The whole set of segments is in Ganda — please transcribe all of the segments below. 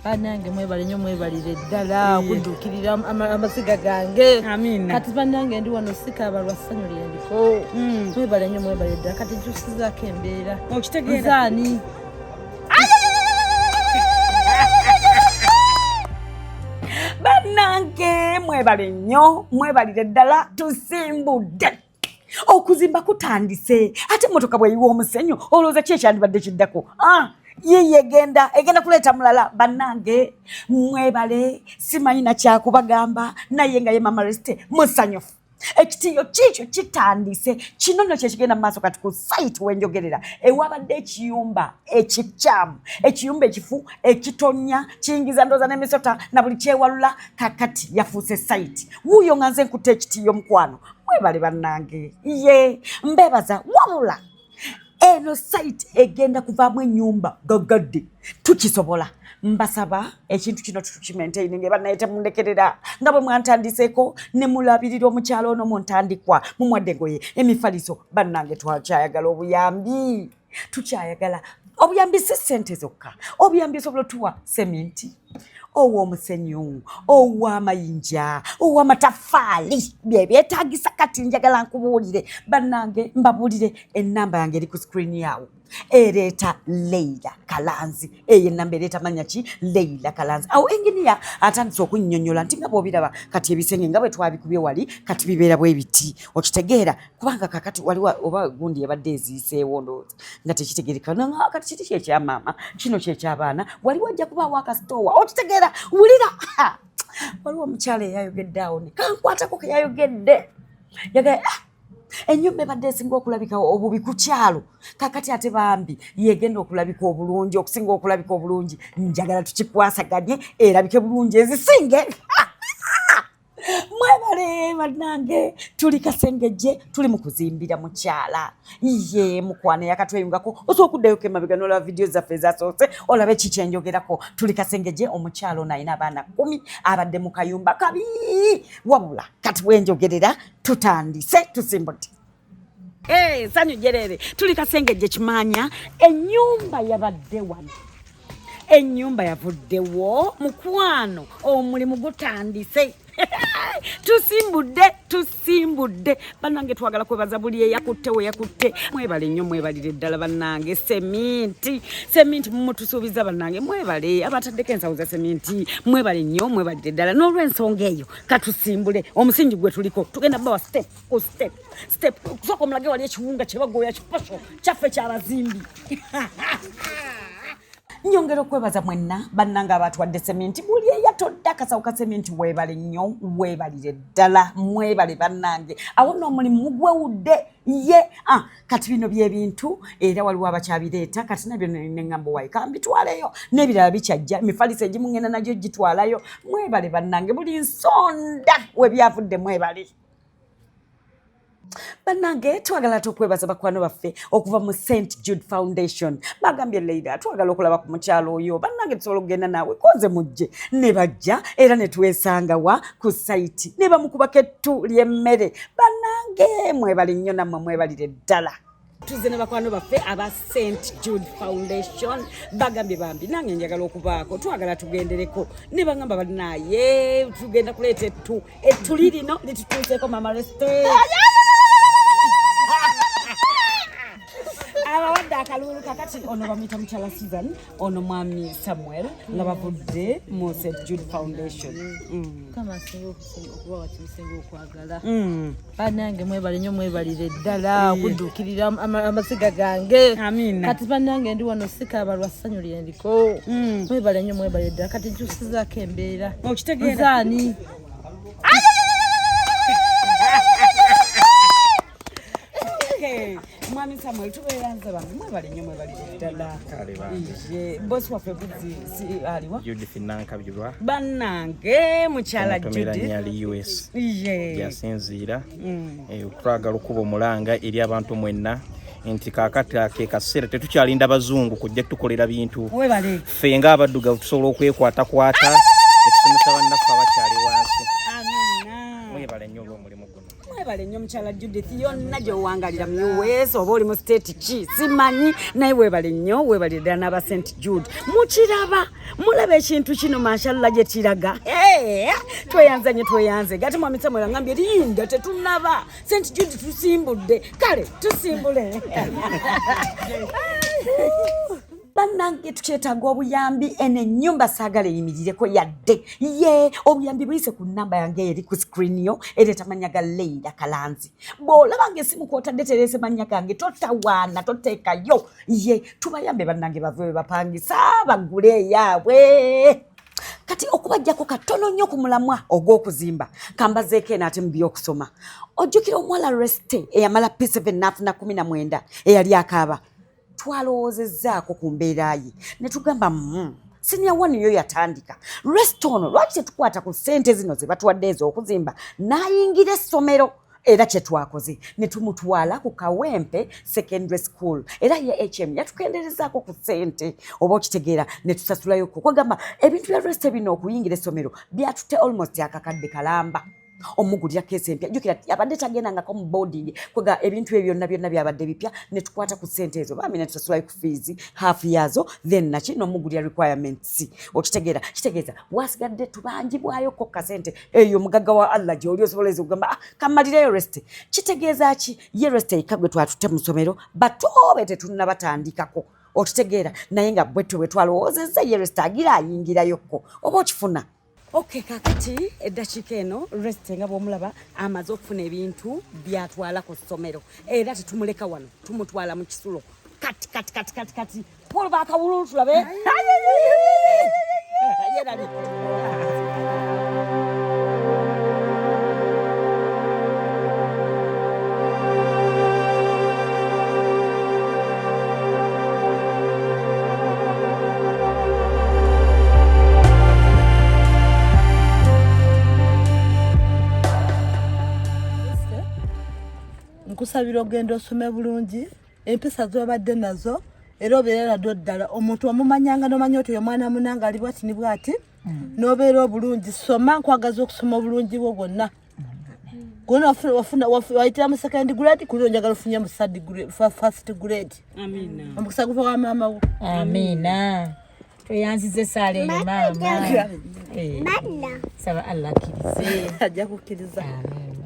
banange mwebale nyo mwebalire ddala okudduukirira amaziga gange kati banange ndi wano sikaaba lwa ssanyu lyendiko hmm. mwebale nyo mwebalire ddala kati jusizaako embeera okitegeeraani banange mwebale nyo mwebalire ddala tusimbudde okuzimba kutandise ate motoka bweyiwa omusenyu olowooza ki ekyandibadde kiddako ah, yiye egenda egenda kuleeta mulala bannange mwebale simanyi nakyakubagamba naye nga ye mama resite musanyufu ekitiyo kiikyo kitandise kino nno kyekigenda mu maaso kati ku site wenjogerera ewabadde ekiyumba ekikyamu ekiyumba ekifu ekitonya kiyingiza ndooza n'emisota na buli kyewalula kakati yafuuse site wuuyo nga nze nkutte ekitiyo mukwano mwebale bannange ye mbebaza wabula eno site egenda kuvaamu ennyumba gaggadde tukisobola mbasaba ekintu kino tutukimaintaini nga ebanaye temundekerera nga bwe mwantandiseeko ne mulabirira omukyalo ono muntandikwa mumwadde goye emifaliso bannange twakyayagala obuyambi tukyayagala obuyambi si sente zokka obuyambi osobola otuwa seminti owa omusenyu owa amayinja owa amatafaali byebyetagisa kati njagala nkubuulire bannange mbabuulire enamba yange eri ku sikrini yawo ereeta leila kalanzi eyo enamba ereeta manya ki leila kalanzi awo enginiya atandise okunnyonnyola nti nga bwobiraba kati ebisenge nga bwe twabikubye wali kati bibeera bwe biti okitegeera kubanga kakati waliwo oba gundi yabadde eziiseewo ndowooza nga tekitegereka nanga kati kiti kyekyamaama kino kyekyabaana waliwo ajja kubaawo akasitoowa okitegeera wulira waliwo omukyala eyayogedde awo ne kankwatako keyayogedde yagala ah, enyumba ebadde esinga okulabika obubi ku kyalo kakati ate bambi yegenda okulabika obulungi okusinga okulabika obulungi njagala tukikwasaganye erabike bulungi ezisinge mwebale banange tuli kasengejje tuli mukuzimbira mukyala ye mukwana yakatweyungako osobola okuddayo kemabega nolaba vidiyo zaffe ezasoose olabe kiki enjogerako tuli kasengejje omukyala ono alina abaana kumi abadde mu kayumba kabi wabula kati bwenjogerera tutandise tusimbuti Hey, sanyu jerere tuli kasenge je kimanya enyumba yabadde wano enyumba yavuddewo mukwano omulimu gutandise tusimbudde tusimbudde bannange twagala kwebaza buli eyakutte weyakutte mwebale nnyo mwebalire ddala bannange seminti seminti mumutusuubiza bannange mwebale abataddeko ensawo za seminti mwebale nnyo mwebalire ddala n'olwensonga eyo katusimbule omusingi gwe tuliko tugenda bawa stepu ku step step kusooka omulage wali ekiwunga kyebagoya kipasho kyaffe kyabazimbi nyongera okwebaza mwenna bannanga abatwadde seminti buli eyatodde akasawo ka seminti weebale nnyo weebalire ddala mwebale bannange awo noomulimu mugwewudde ye ah, kati bino byebintu era waliwo abakyabireeta kati nabyo neŋambo wayi kambitwaleyo n'ebirala bikyajja emifaliso egimu ŋenda nagyo gitwalayo mwebale bannange buli nsonda webyavudde mwebale banange twagala tukwebaza bakwano baffe okuva mu st jude foundation bagambye leida twagala okulaba ku mukyalo oyo banange tusobola okugenda naawe koze mujje ne bajja era ne twesanga wa ku saiti ne bamukubako ettu ly'emmere banange mwebali nnyo nammwe mwebalire ddala tuzze ne bakwano baffe aba st jude foundation bagambye bambi nange njagala okubaako twagala tugendereko ne bagamba balinaye tugenda kuleeta ettu ettu lirino litutuuseeko mama reste abawadde akalulu kakati ono bamuyita mukyala season ono mwami samuel nga bavudde mu st jude foundation mm. banange mwebale nyo mwebalire ddala okudduukirira amaziga gange kati banange ndi wano sikaaba lwa ssanyu lyendiko mm. mwebale nyo mwebalire ddala kati nkyusizaako embeera nzaani mwami samuel tubeeranze bambi mwebale nnyo mwebalire ddala bosi waffe aliwa judith nankabirwa bannange mukyala judithyasinziira mm. eh, twagala okuba omulanga eri abantu mwenna nti kakati ke kaseera tetukyalinda bazungu kujja tukolera bintu ffe nga abaddugavu tusobola okwekwatakwata etusomesa bannaffe abakyali wansi mwebale nnyo olwomulimu mwebale nnyo mukyala judith yonna gyewangalira muweesa oba oli mu state ki simanyi naye webale nnyo webale ddala n'aba st jude mukiraba mulaba ekintu kino mashalla gye kiraga tweyanza nyo tweyanze gati mwami samuel angambye linda tetunaba st jude tusimbudde kale tusimbule banange tukyetaaga obuyambi eno enyumba saagala eyimirireko yadde ye obuyambi buyise ku namba yange eri ku screen yo ereeta mannya ga leira kalanzi bw'olabanga esimu kwotadde tereese mannya gange totawaana toteekayo ye tubayambe banange bave we bapangisa bagule eyaabwe kati okubajjako katono nnyo ku mulamwa ogw'okuzimba kambazeeko eno ate mu by'okusoma ojjukira omuwala reste eyamala p7 n'afuna 19 eyali akaaba twalowoozezzaako ku mbeera ye ne tugamba mm, siniya wani yo yatandika resita ono lwaki tetukwata ku ssente zino ze batuwadde ez'okuzimba n'ayingira essomero era kye twakoze ne tumutwala ku kawempe secondary school era ye hm yatukenderezaako ku ssente oba okitegeera ne tusasulayo kukwagamba ebintu bya resita bino okuyingira essomero byatutte almost akakadde kalamba omugulira keesi empya jukira abadde tagendangako mu boarding kwega ebintu ebyo byonna byonna byabadde bipya ne tukwata ku ssente ezo bambi ne tusasulayo ku fiizi half yaazo then naki n'omugulira requirements okitegeera kitegeeza wasigadde tubanjibwayo ko kasente eyo mugagga wa allah gyoli osobola eza okugamba ah, kamalireyo reste kitegeeza ki ye reste yekka gwe twatutte mu ssomero batoobe tetunnabatandikako okitegeera naye nga bwetwe bwe twalowoozezza ye reste agira ayingirayokko oba okifuna Okay, kakati eddakiika eno resite nga bw'omulaba amaze okufuna ebintu byatwala ku ssomero era tetumuleka wano tumutwala mu kisulo kati kati kati kati kati polo bakawululu tulabe nkusabira ogenda osome bulungi empisa zobadde nazo era obeera naddo ddala omuntu omumanyanga nomanya oti omwana munanga ali bwati ni bwati mm. nobeera obulungi soma nkwagaza okusoma obulungi bwo bwonna kuno wafuna wafuna waitira mu second grade kuno njagala ofunye mu third grade first grade amina omukisa guva wa mama wo amina tweyanzize sale yo mama eh saba allah kirize ajja kukiriza amina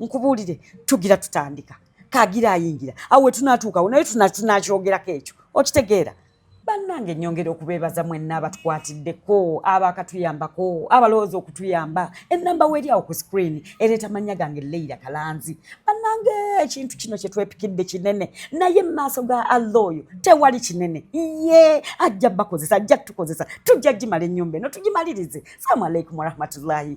nkubuulire tugira tutandika kagira ayingira awo wetunatuukawo naye tunakyogerako ekyo okitegeera bannange nyongera okubeebaza mwenna abatukwatiddeko abakatuyambako abalowooza okutuyamba enamba weeryawo ku screen ereeta mannya gange leira kalanzi bannange ekintu kino kyetwepikidde kinene naye mu maaso ga allah oyo tewali kinene ye ajja bakozesa ajja tukozesa tujja gimala ennyumba eno tugimalirize salaamu aleikum warahmatullahi